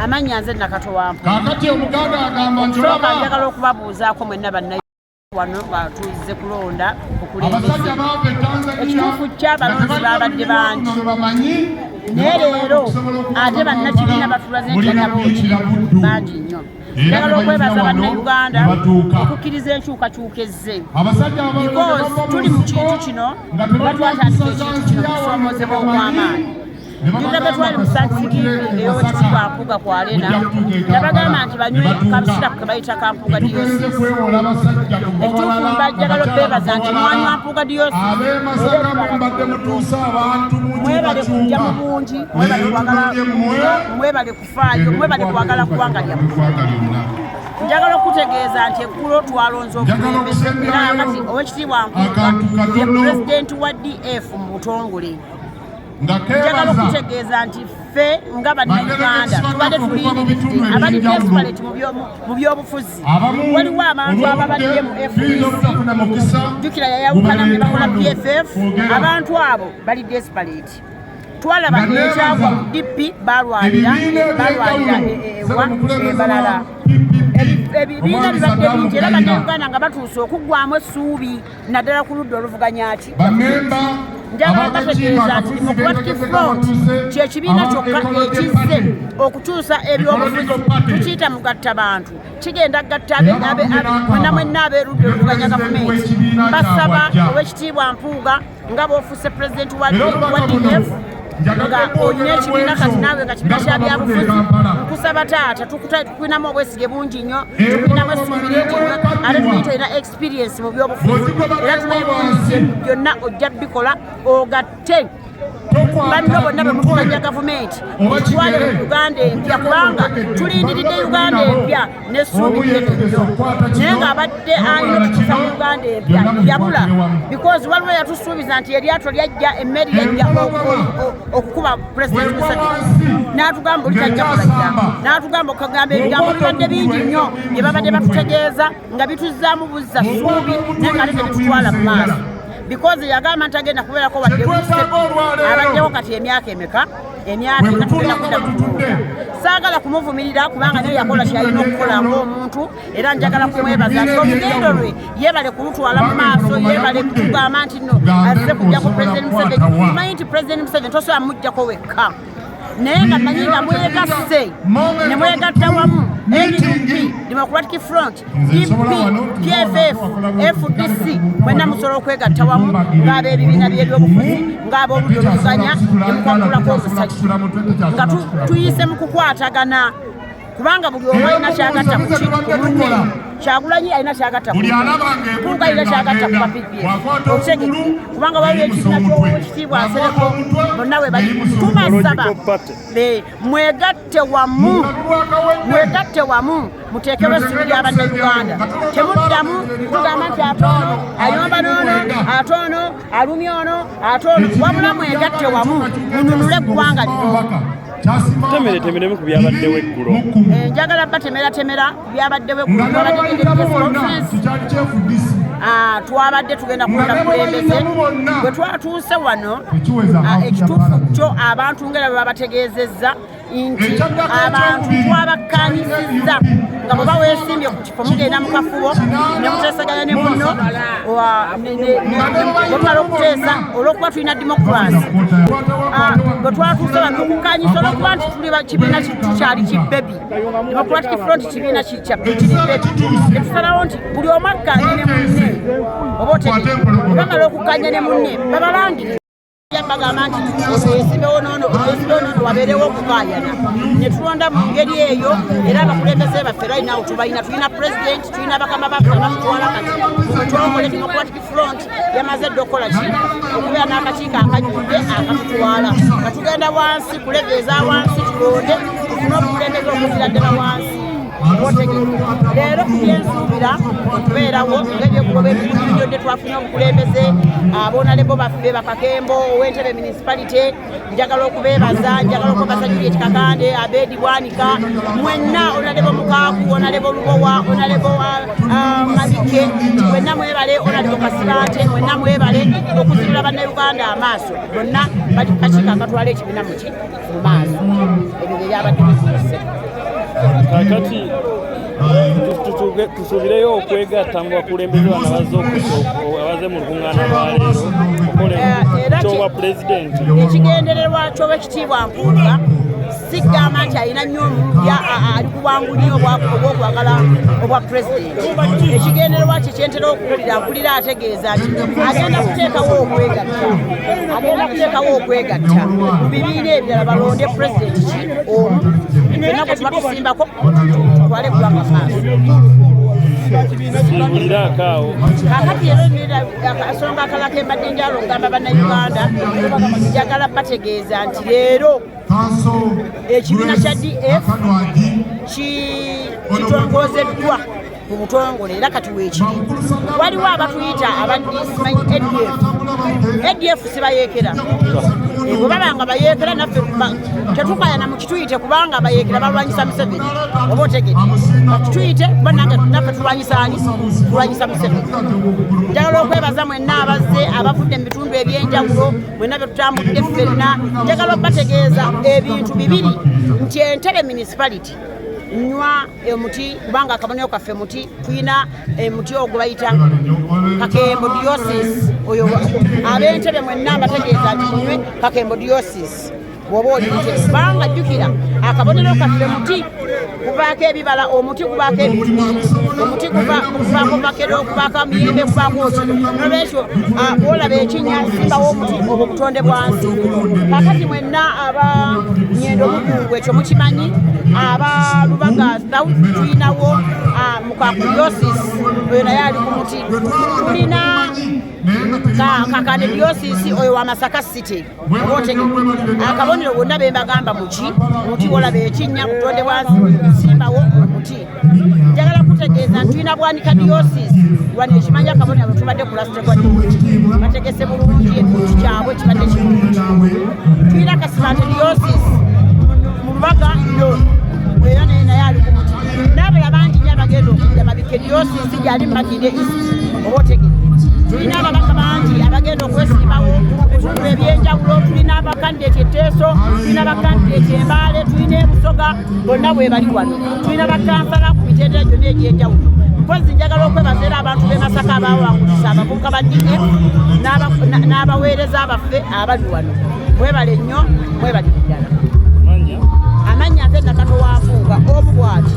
amannya nze nakato wampakati omuganda agamba nti olaba njagala okubabuuzaako mwenna bannaye wano batuuze kulonda okulembeze ekituufu ky'abalonzi baabadde bangi naye leero ate bannakibiina batulazentanabooki bangi nnyo njagala okwebaza bannayuganda okukkiriza enkyukakyuka ezze because tuli mu kintu kino batwatandika ekintu kino kusomozebwa okw'amaanyi Nzega twali mu sansiki ey'owekitikwa Mpuuga ku Arena nabagamba nti banywe kabisirapu ke bayita ka Mpuuga Diocese. Ekituufu mbajjagala okubeebaza nti mwanywa Mpuuga Diocese mwebale kujja mu bungi mwebale kwagala mwebale kufaayo mwebale kwagala ggwanga lyammwe njagala okutegeeza nti eggulo twalonze okulembeza era kati owekitiibwa nkuuga ye pulezidenti wa df mu butongole njagala okutegeeza nti ffe nga bannayuganda tubadde tulindiridde abali desperate mu byobufuzi waliwo abantu ababadde mu fdc jukira yayawukana ne bakola pff abantu abo bali desperate twalaba ekyagwa mu dp balwanira balwanira ewa ebalala ebibiina bibadde bingi era bannayuganda nga batuuse okuggwamu essuubi naddala ku ludda oluvuganya ati bamemba kyekibiina kyokka ekizze okukyusa ebyobufuzi tukiyita mugatta bantu kigenda gatta mwena mwenna aberudde oluvuganya gavumenti basaba owekitiibwa mpuuga nga bofuuse pulezidenti wa df nga olina ekibiina kati naawe nga kibiina kya byabufuzi nkusaba taata tukulinamu obwesige bungi nnyo tukulinamu essuubi lingi nnyo ate tulina experience mu byobufuzi era tumanyi bulungi byonna ojja bikola ogatte banno bonna bemukubanja gavumenti mutwale mu uganda empya kubanga tulindiridde uganda empya nesuubi lyetuyo naye ng'abadde alina okukisa mu uganda empya yabula because waliwo yatusuubiza nti eryato lyajja emmeeri yajja okukuba pulezidenti museveni n'atugamba oli tajja kulajja n'atugamba okugamba ebigambo bibadde bingi nnyo bye babadde batutegeeza nga bituzzaamu buzza suubi naye nga ate tebitwala mu maaso bikozi yagamba nti agenda kubeerako wadde wise abaddewo kati emyaka emeka emyaka ena tugenda kudda kutuuka saagala kumuvumirira kubanga naye yakola kyalina okukola ngaomuntu era njagala kumwebaza nti olugendo lwe yebale kulutwala mu maaso yebale kutugamba nti no azze kujja ku president museveni tumanyi nti president museveni tosobola mujjako wekka naye nga manyi nga mwegasse ne mwegatta wamu npp democratic front dp pff fdc mwena musobola okwegatta wamu ng'ab'ebibiina by'ebyobufuzi ng'ab'oludda oluvuganya ne mukwakulako omusajja nga tuyise mu kukwatagana kubanga buli omu alina kyagatta kumunne kyagulanyi alina kyagatta kukuka alina kyagatta ku mapipi okitege kubanga waliwo ekibiina ky'owekitiibwa nsereko bonna we bali tubasaba mwegatte wamu mwegatte wamu muteekewo essubi lya bannayuganda temuddamu kugamba nti ate ono ayomba n'ono ate ono alumya ono ate ono wabula mwegatte wamu mununule eggwanga lino temere temeremu ku byabaddewo eggulo eh, njagala batemera temera ku byabaddewo ah, twabadde tugenda kukola kulembeze bwe twatuuse wano ah, ekituufu kyo abantu ngera bwe babategeezezza nti abantu twabakkanyizizza nga bwe baweesimbye mugenda mu kafubo ne muteesaganya ne munno bwemala okuteesa olw'okuba tulina demokurasi ah, bwe twatuuse batukukanyisa olwokuba nti tuli kibiina tukyali kibebi democratic front kibiina kikya kiri bebi netusalawo nti buli omu akkanye ne munne oba otegee bamala okukkanya ne munne babalangire bagamba nti osimbewo nono osimbewo nono wabeerewo okukaayana ne tulonda mu ngeri eyo era abakulembeze baffe right now tubalina tulina president tulina bakama baffe abatutwala kati twakole democratic front yamaze dda okukola ki okubeera n'akakiiko akanyudde akatutwala nga tugenda wansi kulegeeza wansi tulonde tufune obukulembeze okuzira ddala wansi leero byensuubira okubeerawo ngaebyokugoba ebiunyodde twafuna obukulembeze abonalebo baffe bakakembo owentebe municipality njagala okubebaza njagala okubabaza juliet kakande abedi bwanika mwenna onalebo mukaaku onalebo lubowa onalebo ah, mabike mwenna mwebale onalebo kasibante mwenna mwebale okuzirula bannauganda amaaso bonna bali kakiiko akatwala ekibiina muki mu maaso ebyo bye byabadde bisuuse kakati tusubireyo okwegatta mu bakulembeze bano abazze abaze mu lukuŋŋaana lwaleero okole kyobwa pulezidenti ekigendererwa kyoba ekitiibwa mpuuga sigamba nti alina nnyo omulubya ali kuwangu nnyo obwokwagala obwa pulezidenti ekigendererwa kye kyentera okuwulira mpulira ategeeza nti agenda kuteekawo okwegatta agenda kuteekawo okwegatta mu bibiina ebirala balonde pulezidenti ki omu fenna gwe tuba tusimbako twale gwanga maaso kakati era emira akasonga akala kembadde njalo ngamba bannayuganda njagala bategeeza nti leero ekibiina kya df kitongozeddwa mu butongole era kati weekiri waliwo abatuyita abadisimanyi adf adf sibayeekera bwe baba nga bayeekera naffe tetukayana mu kituyite kubanga abayeekera balwanyisa museveni oba otegede kituyite kuba nange naffe tulwanyisa ani tulwanyisa museveni njagala okwebaza mwenna abazze abavudde mu bitundu ebyenjawulo mwenna bye tutambudde ffenna njagala okubategeeza ebintu bibiri nti entebe municipality nywa emuti kubanga akabonero kaffe muti tulina emuti eh, ogwo bayita kakembo diosis oyo abentebe mwenna mbategeeza nti munywe kakembo diosis bwoba olinte kubanga jjukira akabonero kaffe muti kuvaako ebibala omuti kuvaako omuti kuvaako makero okuvaako amiyembe kuvaako oki nolwekyo ah, olaba ekinya simbawo omuti obwo butonde bwansi kakati na aba nyendo mukungu ekyo mukimanyi aba lubaga south tulinawo ah, mukakuliosis oyo naye ali ku muti tulina kakane diosisi oyo wa masaka city otege akabonero bwonna bembagamba muki omuti olaba ekinnya butonde bwa simbawo omuti njagala kutegeeza nti tulina bwanika diosis wano ekimanya kabonero tubadde kulastewa bategese bulungi ekintu kyabwe kibadde kirungi tulina kasibante diosis mu lubaga no era naye naye ali ku muti n'abala bangi nyo abagenda okudda mabike diosis gyali makinde isi oba otegee tulina ababaka bangi abagenda okwesimbawo ebitundu ebyenjawulo tulina abakandideti eteeso tulina abakandideti embaale tulina ebusoga bonna bwebali wano tulina bakansala ku mitendera gyonna egy'enjawulo mpozi njagala okwebaza era abantu b'e masaka abawangulisa abavubuka ba df n'abaweereza baffe abali wano mwebale nnyo mwebali ddala amannya nze nakatowafuuga omu bwati